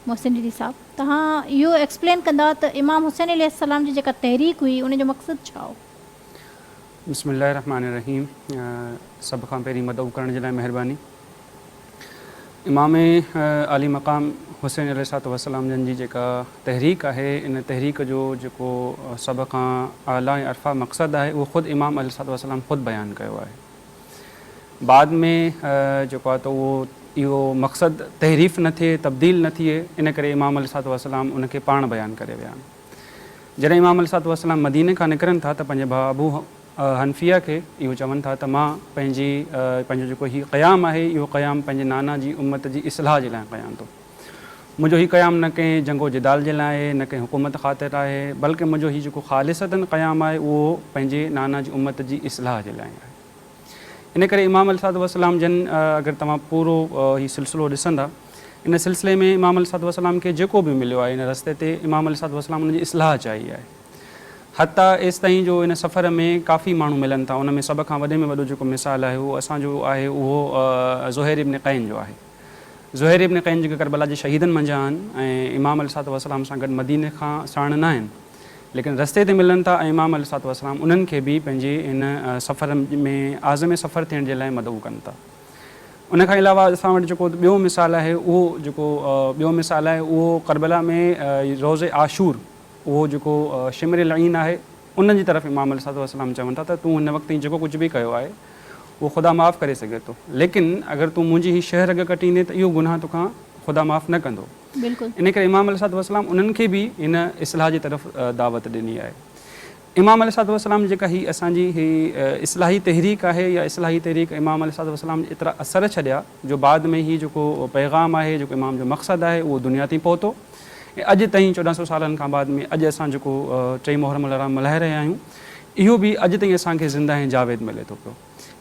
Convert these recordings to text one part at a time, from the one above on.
محسن ڊيلي صاحب توهان اهو ايڪسپلين ڪندا ته امام حسين عليه السلام جي جيڪا تحريڪ هئي ان جو مقصد ڇا هو؟ بسم الله الرحمٰن الرحيم سڀ کان پهرين مدعو ڪرڻ جي لاء مهرباني امام عالي مقام حسين عليه السلام جن جي جيڪا تحريڪ آهي ان تحريڪ جو جيڪو سڀ کان اعليٰ ۽ ارفع مقصد آهي اهو خود امام عليه السلام خود بيان ڪيو آهي بعد ۾ جيڪو آهي ته اهو اهو مقصد تحريف نه ٿئي تبديل نه ٿئي ان ڪري امام عليه الصلوة والسلام ان کي پاڻ بيان ڪري ويا آهن. جڏهن امام عليه الصلوة والسلام مديني کان نڪرن ٿا ته پنهنجي ڀاء ابو حنفيه کي اهو چون ٿا ته مان پنهنجي پنهنجو جيڪو هي قيام آهي اهو قيام پنهنجي نانا جي امت جي اصلاح جي لاء ڪيان ٿو. منهنجو هي قيام نه ڪنهن جنگ و جدال جي لاء آهي، نه ڪنهن حڪومت خاطر آهي، بلڪ منهنجو هي جيڪو خالصتن قيام آهي اهو پنهنجي نانا جي امت جي اصلاح جي لاء آهي. ان ڪري امام عليه الصلوة والسلام جن اگر توهان پورو هي سلسلو ڏسندا ان سلسلي ۾ امام عليه الصلوة والسلام کي جيڪو به مليو آهي ان رستي تي امام عليه الصلوة والسلام ان جي اصلاح چاهي آهي. حتيٰ ايستائين جو ان سفر ۾ ڪافي ماڻهو ملن ٿا ان ۾ سڀ کان وڏي ۾ وڏو جيڪو مثال آهي اهو اسان جو آهي اهو زهير ابن قين جو آهي. زهير ابن قيم جيڪي ڪربلا جي شهيدن منجهان آهن ۽ امام عليه الصلوة والسلام سان گڏ مديني کان ساڻ نه آهن ليڪن رستي تي ملن ٿا ۽ امام عليه الصلوة والسلام انهن کي به پنهنجي هن سفر ۾ عازم سفر ٿيڻ جي لاء مدعو ڪن ٿا. ان کان علاوه اسان وٽ جيڪو ٻيو مثال آهي اهو جيڪو ٻيو مثال آهي اهو ڪربلا ۾ روز عاشور اهو جيڪو شمر العين آهي انهن جي طرف امام عليه الصلوة والسلام چون ٿا ته تون هن وقت تائين جيڪو ڪجهه به ڪيو آهي اهو خدا معاف ڪري سگهي ٿو ليڪن اگر تون منهنجي هي شهه رڳ ڪٽيندين ته اهو گناهه توکان خدا معاف نه ڪندو بلڪل. انهي ڪري امام عليه الصلوة والسلام انهن کي به هن اصلاح جي طرف دعوت ڏني آهي. امام عليه الصلوة والسلام جي جيڪا هي اسان جي هي اصلاحي تحريڪ آهي يا اصلاحي تحريڪ امام عليه الصلوة والسلام ايترا اثر ڇڏيا جو بعد ۾ هي جيڪو پيغام آهي جيڪو امام جو مقصد آهي اهو دنيا تائين پهتو. ۽ اڄ تائين چوڏهن سؤ سالن کان بعد ۾ اڄ اسان جيڪو ٽي محرم الحرام ملهائي رهيا آهيون اهو به اڄ تائين اسان کي زنده ۽ جاويد ملي ٿو پيو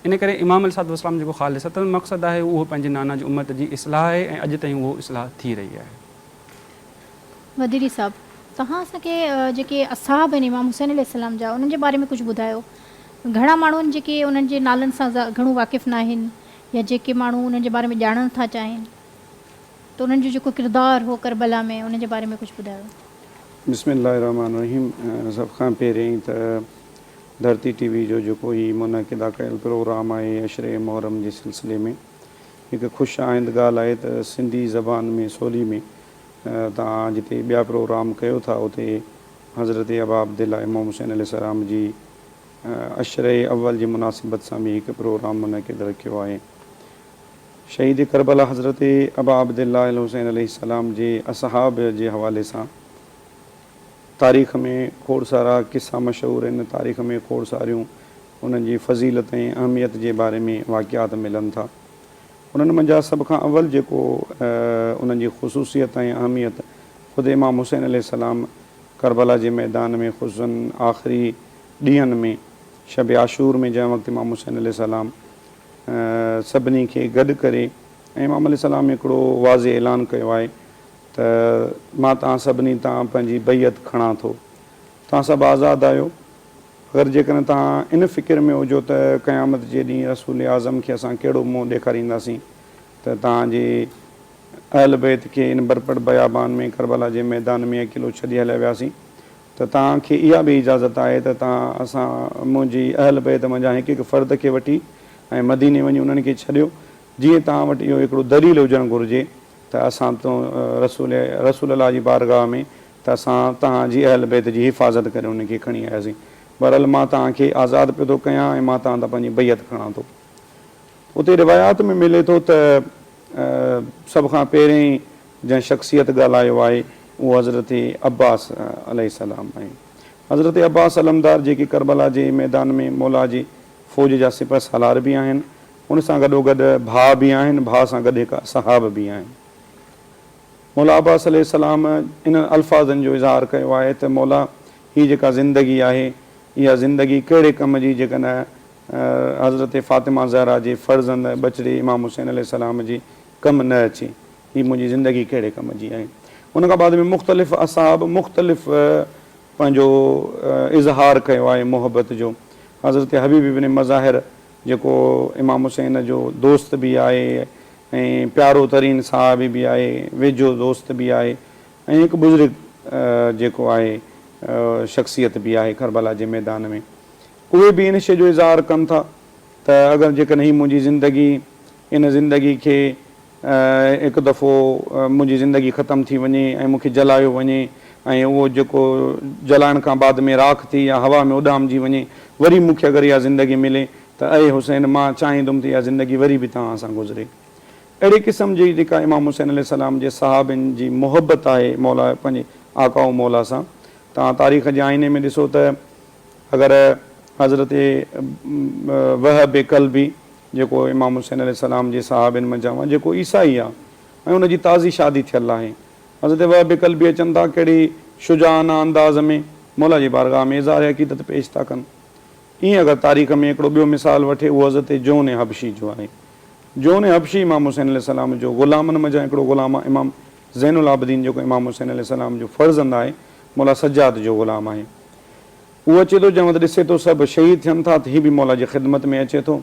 ان ڪري امام عليه الصلوة والسلام جيڪو خالصتن مقصد آهي اهو پنهنجي نانا جي امت جي اصلاح آهي ۽ اڄ تائين اهو اصلاح ٿي رهي آهي. وڌيري صاحب توهان اسان کي جيڪي اصحاب آهن امام حسين عليه السلام جا انهن جي باري ۾ ڪجهه ٻڌايو گهڻا ماڻهو آهن جيڪي انهن جي نالن سان گهڻو واقف ناهن يا جيڪي ماڻهو انهن جي باري ۾ ڄاڻڻ ٿا چاهين. ته انهن جو جيڪو ڪردار هو ڪربلا ۾ ان جي باري ۾ ڪجهه ٻڌايو. بسم الله الرحمٰن الرحيم سڀ کان پهريائين ته ڌرتي ٽي وي جو جيڪو هي منعقده ڪيل پروگرام آهي عشري محرم جي سلسلي ۾ هڪ خوش آئند ڳالهه آهي ته سنڌي زبان ۾ سولي ۾ توهان جتي ٻيا پروگرام ڪيو ٿا اتي حضرت اباعبدالله امام حسين عليه السلام جي عشري اول جي مناسبت سان به هڪ پروگرام منعقد رکيو آهي شهيد ڪربلا حضرت ابا عبدالله الحسين عليه السلام جي اصحاب جي حوالي سان تاريخ ۾ کوڙ سارا قصا مشهور آهن، تاريخ ۾ کوڙ ساريون انهن جي فضيلت ۽ اهميت جي باري ۾ واقعات ملن ٿا. انهن منجهان سڀ کان اول جيڪو انهن جي خصوصيت ۽ اهميت خود امام حسين عليه السلام ڪربلا جي ميدان ۾ خصوصاً آخري ڏينهن ۾ شب عاشور ۾ جنهن وقت امام حسين عليه السلام سڀني کي گڏ ڪري ۽ امام عليه السلام هڪڙو واضح اعلان ڪيو آهي ته مان توهان سڀني تان پنهنجي بيعت کڻان ٿو. توهان سڀ آزاد آهيو. اگر جيڪڏهن توهان ان فڪر ۾ هجو ته قيامت جي ڏينهن رسول اعظم کي اسان ڪهڙو منهن ڏيکارينداسين ته توهان جي اهل بيت کي ان برپڙ بيابان ۾ ڪربلا جي ميدان ۾ اڪيلو ڇڏي هليا وياسين ته توهان کي اها به اجازت آهي ته توهان اسان منهنجي اهل بيت منجهان هڪ هڪ فرد کي وٺي ۽ مديني وڃي انهن کي ڇڏيو جيئن توهان وٽ اهو هڪڙو دليل هجڻ گهرجي ته اسان تو رسول رسول الله جي بارگاهه ۾ ته اسان توهان جي اهل بيت جي حفاظت ڪري انهن کي کڻي آياسين بهرحال مان توهان کي آزاد پيو ٿو ڪيان ۽ مان توهان تان پنهنجي بيعت کڻان ٿو اتي روايات ۾ ملي ٿو ته سڀ کان پهرين جنهن شخصيت ڳالهايو آهي اهو حضرت عباس عليه السلام آهي. حضرت عباس علمدار جيڪي ڪربلا جي ميدان ۾ مولا جي فوج جا سپهه سالار به آهن ان سان گڏوگڏ ڀاء به آهن ڀاء سان گڏ هڪ اصحاب به آهن. مولا عباس عليه السلام انهن الفاظن جو اظهار ڪيو آهي ته مولا هي جيڪا زندگي آهي اها زندگي ڪهڙي ڪم جي جيڪڏهن حضرت فاطمه زهرا جي فرزند ٻچڙي امام حسين عليه السلام جي ڪم نه اچي. هي منهنجي زندگي ڪهڙي ڪم جي آهي. ان کان بعد ۾ مختلف اصحاب مختلف پنهنجو اظهار ڪيو آهي محبت جو. حضرت حبيب ابن مظاهر جيڪو امام حسين جو دوست به آهي ۽ پيارو ترين صحابي به آهي، ويجهو دوست به آهي ۽ هڪ بزرگ جيڪو آهي شخصيت به آهي ڪربلا جي ميدان ۾ اهي به ان شيء جو اظهار ڪن ٿا ته اگر جيڪڏهن هي منهنجي زندگي ان زندگي کي هڪ دفعو منهنجي زندگي ختم ٿي وڃي ۽ مون کي جلايو وڃي ۽ اهو جيڪو جلائڻ کان بعد ۾ راک ٿي يا هوا ۾ اڏامجي وڃي وري مون کي اگر اها زندگي ملي ته اي حسين مان چاهيندم ته اها زندگي وري به توهان سان گذري اهڙي قسم جي جيڪا امام حسين عليه السلام جي صحابين جي محبت آهي مولا پنهنجي آقا و مولا سان توهان تاريخ جي آئيني ۾ ڏسو ته اگر حضرت وهب قلبي جيڪو امام حسين عليه السلام جي صحابين منجهان هو جيڪو عيسائي آهي ۽ ان جي تازي شادي ٿيل آهي حضرت وهب ڪلبي اچن ٿا ڪهڙي شجاعانه انداز ۾ موليٰ جي بارگاهه ۾ اظهار عقيدت پيش ٿا ڪن ائين اگر تاريخ ۾ هڪڙو ٻيو مثال وٺي اهو حضرت جون حبشي جو آهي جون حبشي امام حسين عليه السلام جو غلامن منجهان هڪڙو غلام آهي امام زين العابدين جيڪو امام حسين عليه السلام جو فرزند آهي موليٰ سجاد جو غلام آهي. هو اچي ٿو جنهن وٽ ڏسي ٿو سڀ شهيد ٿين ٿا ته هي به مولا جي خدمت ۾ اچي ٿو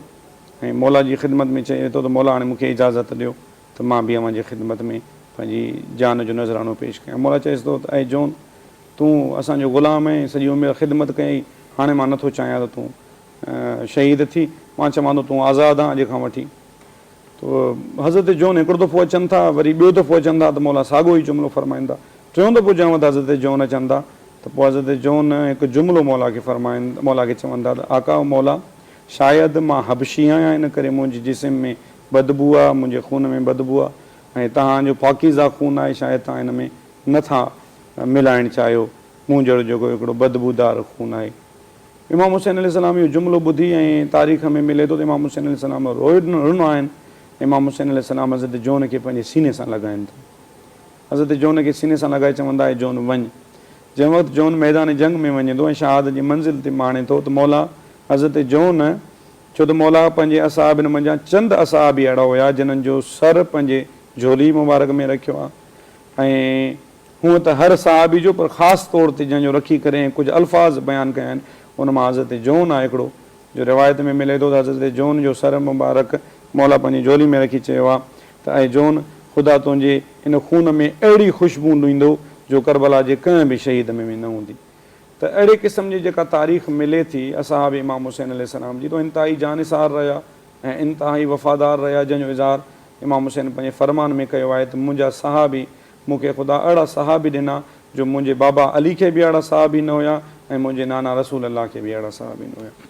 ۽ مولا جي خدمت ۾ چئي ٿو ته مولا هاڻي مون کي اجازت ڏيو ته مان به اوهان جي خدمت ۾ پنهنجي جان جو نذرانو پيش ڪيان مولا چئيس ٿو ته اي جون تون اسان جو غلام اهين سڄي عمر خدمت ڪئي هاڻي مان نه ٿو چاهيان ته تون شهيد ٿي مان چوان ٿو تون آزاد آن اڄ کان وٺي حضرت جون هڪڙو دفعو اچن ٿا وري ٻيو دفعو اچن ٿا ته مولا ساڳيو ئي جملو فرمائن ٿا. ٽيون دفعو جنهن وقت حضرت جون اچن ٿا ته پوء حضرت جون هڪ جملو مولا کي فرمائن مولا کي چون ٿا ته آقا و مولا شايد مان حبشي آهيان ان ڪري منهنجي جسم ۾ بدبو آهي منهنجي خون ۾ بدبو آهي ۽ توهان جو پاڪيزه خون آهي شايد توهان ان ۾ نه ٿا ملائڻ چاهيو مون جهڙو جيڪو هڪڙو بدبودار خون آهي. امام حسين عليه السلام اهو جملو ٻڌي ۽ تاريخ ۾ ملي ٿو ته امام حسين عليه السلام رون آهن. امام حسين عليه السلام حضرت جون کي پنهنجي سيني سان لڳائين ٿا. حضرت جون کي سيني سان لڳائي چون ٿا اي جون وڃ. جنهن وقت جون ميدان جنگ ۾ وڃي ٿو ۽ شهادت جي منزل تي ماڻي ٿو ته مولا حضرت جون ڇو ته مولا پنهنجي اصحابن منجهان چند اصحابي اهڙا هيا جنهن جو سر پنهنجي جهولي مبارڪ ۾ رکيو ها ۽ هونء ته هر صحابي جو پر خاص طور تي جنهن جو رکي ڪري ۽ ڪجهه الفاظ بيان ڪيا آهن ان مان حضرت جون آهي هڪڙو جو روايت ۾ ملي ٿو ته حضرت جون جو سر مبارڪ موليٰ پنهنجي جهولي ۾ رکي چيو آهي ته اي جون خدا تنهنجي ان خون ۾ اهڙي خوشبو لهيندو جو ڪربلا جي ڪنهن به شهيد ۾ به نه هوندي ته اهڙي قسم جي جيڪا تاريخ ملي ٿي اصحاب امام حسين عليه السلام جي ته انتهائي جانثار رهيا ۽ انتهائي وفادار رهيا جنهن جو اظهار امام حسين پنهنجي فرمان ۾ ڪيو آهي ته منهنجا صحابي مون کي خدا اھڙا صحابي ڏنا جو منھنجي بابا علي کي به اھڙا صحابي نه ھيا ۽ منھنجي نانا رسول الله کي به اھڙا صحابي نه ھيا.